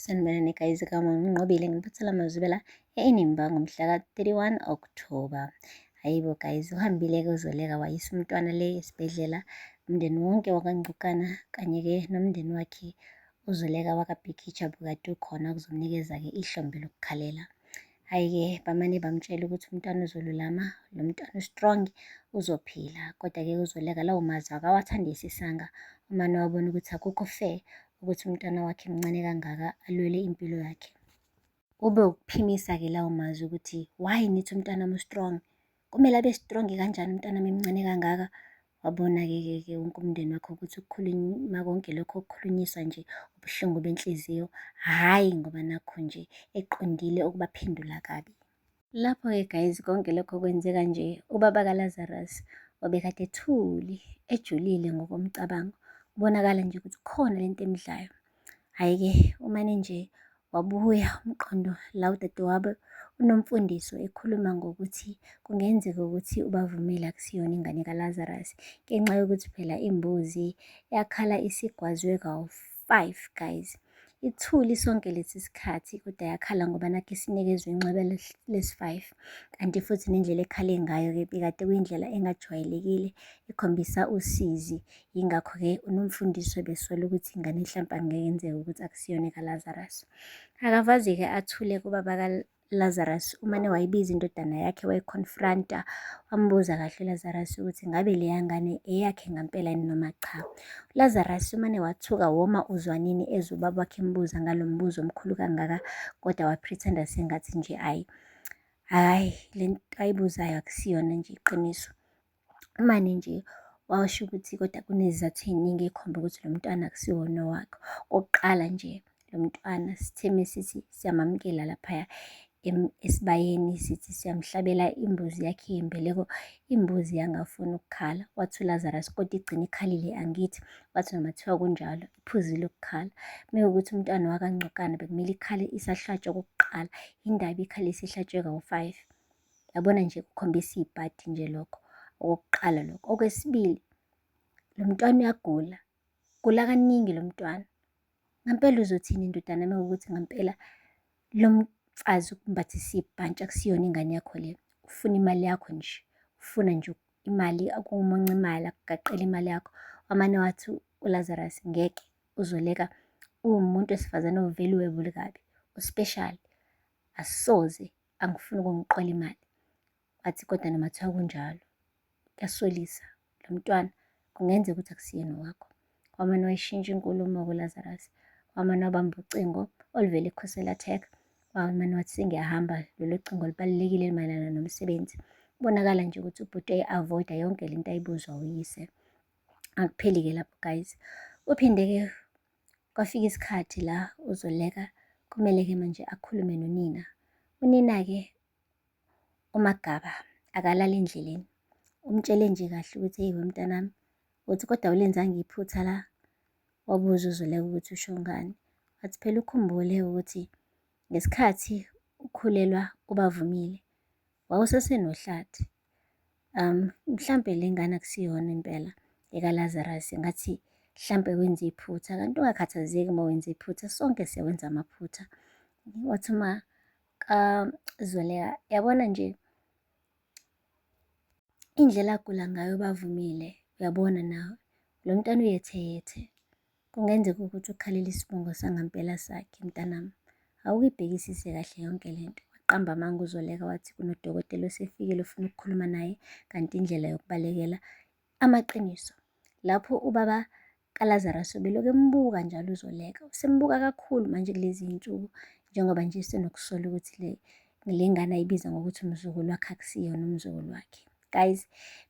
Sanibonani guys kama nginqobile ngiphathela amazwibela eNimba ngomhla ka-31 October. Hayibo guys uhambile ke uzoleka wayisa umntwana le esibhedlela umndeni wonke wakangcukana kanye ke nomndeni wakhe uzoleka wakabhikitsha bukade ukhona kuzomnikeza ke ihlombe lokukhalela. Hhayi-ke bamane bamtshela ukuthi umntwana uzolulama, lo mntwana u-strong, uzophila. Kodwa-ke kuzoleka lawo mazwi akawathandi isisanga. Umane wabona ukuthi akukho fair ukuthi umntwana wakhe mncane kangaka alwele impilo yakhe. Ube ukuphimisa-ke lawo mazwi ukuthi why nithi umntwana mu-strong? Kumele abe strong kanjani umntanami emncane kangaka? Wabona-ke ke ke wonke umndeni wakho ukuthi ukukhuluma konke lokho okukhulunyiswa nje ubuhlungu benhliziyo, hhayi ngoba nakho nje eqondile ukubaphendula kabi. Lapho-ke guys konke lokho kwenzeka nje, ubaba kaLazarus obekade ethuli, ejulile ngokomcabango, kubonakala nje ukuthi khona lento emdlayo. Hhayi-ke umane nje Wabuya umqondo la udadewabo uNomfundiso ekhuluma ngokuthi kungenzeka ukuthi ubavumile akusiyona ingane kaLazarus ngenxa yokuthi phela imbuzi yakhala isigwazwe kawu-5 guys. Ithuli sonke lesi sikhathi kodwa yakhala ngoba nakho isinikezwe inxeba lesi-5 kanti futhi nendlela ekhale ngayo-ke bekade kuyindlela engajwayelekile ekhombisa usizi Yingakho-ke unomfundisi ebesola ukuthi ingane hlampe angekenzeka ukuthi akusiyona ekaLazarus. Akavaze-ke athule kubaba kaLazarus umane wayibiza indodana yakhe wayiconfronta wambuza kahle uLazarus ukuthi ngabe leya ngane eyakhe ngampela yini noma cha. ULazarus umane wathuka woma uzwanini ezwe ubaba wakhe embuza ngalo mbuzo omkhulu kangaka kodwa wapretenda sengathi nje ayi hhayi le nto ayibuzayo akusiyona nje iqiniso. Umane nje wawasho ukuthi kodwa kunezizathu ey'ningi ey'khomba ukuthi lo mntwana akusiwona owakho. Okokuqala nje lo mntwana sithe mesithi siyamamukela laphaya esibayeni sithi siyamhlabela imbuzi yakhe yembeleko, imbuzi yangafuni ukukhala. Wathi uLazarus kodwa igcine ikhalile angithi, wathi noma kuthiwa kunjalo iphuzile ukukhala. Mekuwukuthi umntwana wakaNgcokana bekumele ikhale isahlatshwa okokuqala, yindaba ikhale isihlatshwe kawu-five. Yabona nje kukhombisa ibhadi nje lokho okokuqala lokho. Okwesibili lo mntwana uyagula, gula kaningi lo mntwana. Ngampela uzothini ndodana uma ukuthi ngampela lo mfazi ukumbathisa ibhantshi akusiyona ingane yakho le. Ufuna imali yakho nje, ufuna nje imali akumunca imali akugaqele imali yakho. Wamane wathi uLazarus ngeke uzoleka uwumuntu wesifazane ovele uwebule kabi, uspeshali asoze angifuni ukungiqola imali. Wathi kodwa noma kuthiwa kunjalo, kuyasolisa lo mntwana, kungenzeka ukuthi akusiyena owakho. Wamane wayishintsha inkulumo-ke uLazarus, wamane wabamba ucingo oluvela ekhosela tech, wamane wathi sengiyahamba, lolo cingo lubalulekile elimayelana nomsebenzi. Kubonakala nje ukuthi ubhuti eyi-avoida yonke le nto ayibuzwa uyise. Akupheli-ke lapho guys. Uphinde-ke Kwafika isikhathi la uZoleka kumele-ke manje akhulume nonina. Unina-ke uMagaba akalali endleleni. Umtshele nje kahle ukuthi eyi wemntanami, uthi kodwa ulenzanga iphutha la. Wabuza uZoleka ukuthi usho ngani. Wathi phela ukhumbule ukuthi ngesikhathi ukhulelwa ubavumile wawusesenohlathi. Um, mhlampe le ngane akusiyona impela ekaLazarus, ngathi mhlampe wenza iphutha. Kanti ungakhathazeki uma wenza iphutha, sonke siyawenza amaphutha. Wathi uma kaZoleka, um, yabona nje indlela agula ngayo bavumile, uyabona nawe. Lo mntana uyetheyethe. Kungenzeka ukuthi ukhalela isibongo sangampela sakhe, mntanami. Awukibhekisise kahle yonke le nto. Waqamba amanga uZoleka wathi kunodokotela osefikile ufuna ukukhuluma naye kanti indlela yokubalekela amaqiniso. Lapho ubaba kaLazarus ubeloku embuka njalo uZoleka. Usembuka kakhulu manje kulezi zinsuku njengoba nje senokusola ukuthi le le ngane ayibiza ngokuthi umzukulu wakhe akusiyona umzukulu wakhe. guys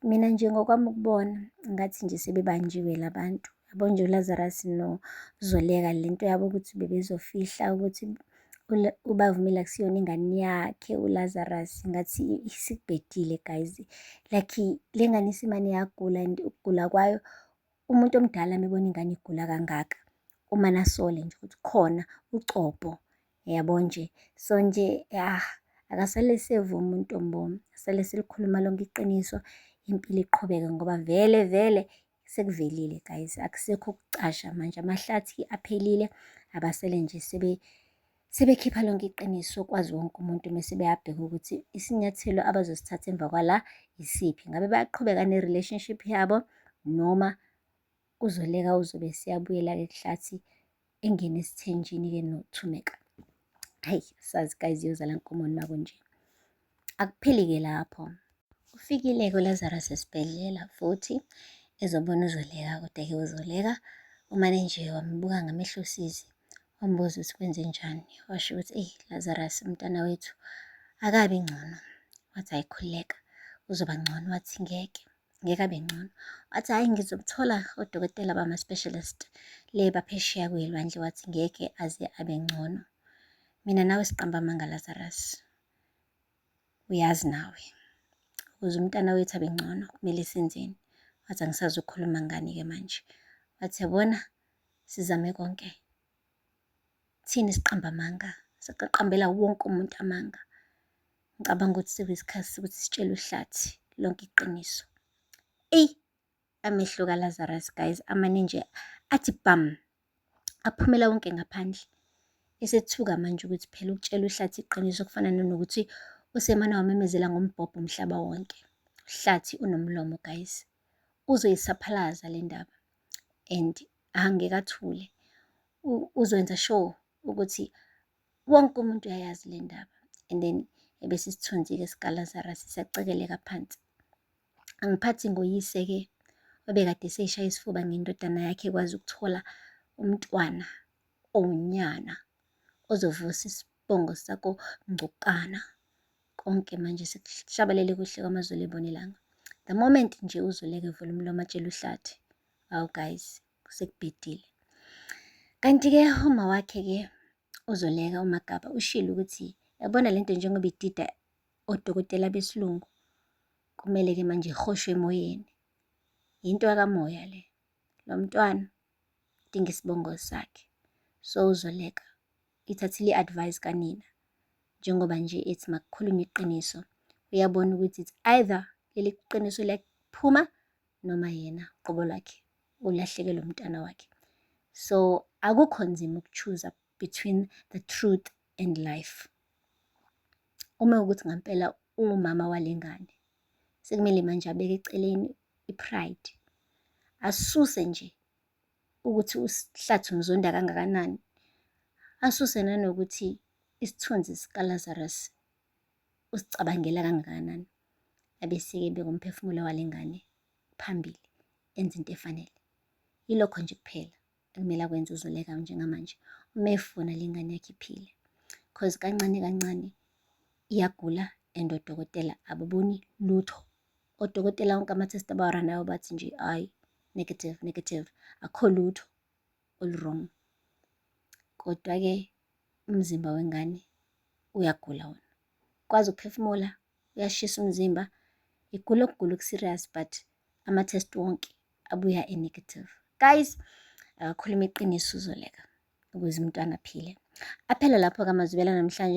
mina nje ngokwami ukubona ngathi nje sebebanjiwe labantu yabo nje uLazarus noZoleka lento yabo ukuthi bebezofihla ukuthi ubavumile akusiyona ingane yakhe uLazarus ngathi isikubhedile guys like le ngane isimane yagula and ukugula kwayo umuntu omdala mebona ingane igula kangaka uma nasole nje ukuthi khona ucobo yabo nje so nje ya akasale sevuma untombomi asale selikhuluma lonke iqiniso impilo iqhubeke ngoba vele vele sekuvelile guys akusekho ukucasha manje amahlathi aphelile abasele nje sebe sebekhipha lonke iqiniso kwazi wonke umuntu mese beyabheka ukuthi isinyathelo abazosithatha emva kwala yisiphi ngabe bayaqhubeka ne-relationship yabo noma uzoleka uzobe siyabuyela-ke kuhlathi engene esithenjini ke nothumeka hayi sazi guys yozala nkomoni makunje akupheli ke lapho ufikile ke uLazarus esibhedlela futhi ezobona uzoleka kodwa ke uzoleka umane nje wambuka ngamehlo usizi wambuza ukuthi kwenze njani washo ukuthi eyi Lazarus umntana wethu akabi ngcono wathi ayikhuleka uzoba ngcono wathi ngeke ngeke abe ngcono wathi hhayi ngizokuthola odokotela bama-specialist le baphesheya kuyilwandle wathi ngeke aze abe ngcono mina nawe siqamba amanga lazarus uyazi nawe ukuze umntana wethu abe ngcono kumele senzeni wathi angisazi ukukhuluma ngani-ke manje wathi yabona sizame konke Thina siqamba amanga, siqaqambela wonke umuntu amanga. Ngicabanga ukuthi sekuyisikhathi sokuthi sitshele uhlathi lonke iqiniso. Eyi, amehlo kaLazarus guys, amane nje athi bhamu, aphumela wonke ngaphandle. Esethuka manje ukuthi phela ukutshela uhlathi iqiniso kufana nanokuthi usemane wamemezela ngombhobho umhlaba wonke. Uhlathi unomlomo guys, uzoyisaphalaza le ndaba and angeke athule uzokwenza sure ukuthi wonke umuntu uyayazi le ndaba and then ebese isithunzi-ke sikalazara sisacekeleka phansi angiphathi ngoyise-ke obekade eseyishaya isifuba ngendodana yakhe ekwazi ukuthola umntwana owunyana ozovusa isibongo sako ngcokana konke manje sekushabalele kuhle kwamazulu ebonelanga the moment nje uzoleke vula umlomo atshela uhlathi Awu guys, kusekubhedile. Kanti-ke uma wakhe-ke uzoleka uMagaba ushilo ukuthi yabona le nto njengoba idida odokotela besilungu kumele-ke manje ihoshwe emoyeni. Yinto yakamoya le. Lo mntwana udinga isibongo sakhe. So uzoleka ithathile i-advice kanina njengoba nje ethi makukhulunywe iqiniso uyabona ukuthi it's either leli qiniso liyaphuma noma yena qobo lwakhe ulahlekele umntana wakhe so akukho nzima ukuchuza between the truth and life uma ukuthi ngampela ungumama walengane sekumele manje abeke eceleni ipride asuse nje ukuthi usihlathi umzonda kangakanani asuse nanokuthi isithunzi sikaLazarus usicabangela kangakanani abesike beka umphefumulo wale ngane phambili enze into efanele yilokho nje kuphela ekumele akwenze uzoleka njengamanje uma efuna le ngane yakhe iphile cause kancane kancane iyagula and odokotela ababoni lutho odokotela wonke ama-test abawaranayo bathi nje hhayi negative negative akho lutho olu-wrong. Kodwa-ke umzimba wengane uyagula wona. Ukwazi ukuphefumula, uyashisa umzimba, igula ukugula oku-serious but ama-test wonke abuya e-negative. Guys, akakhuluma iqiniso uzoleka ukuze umntwana aphile. Aphela lapho-ke amazwibela namhlanje.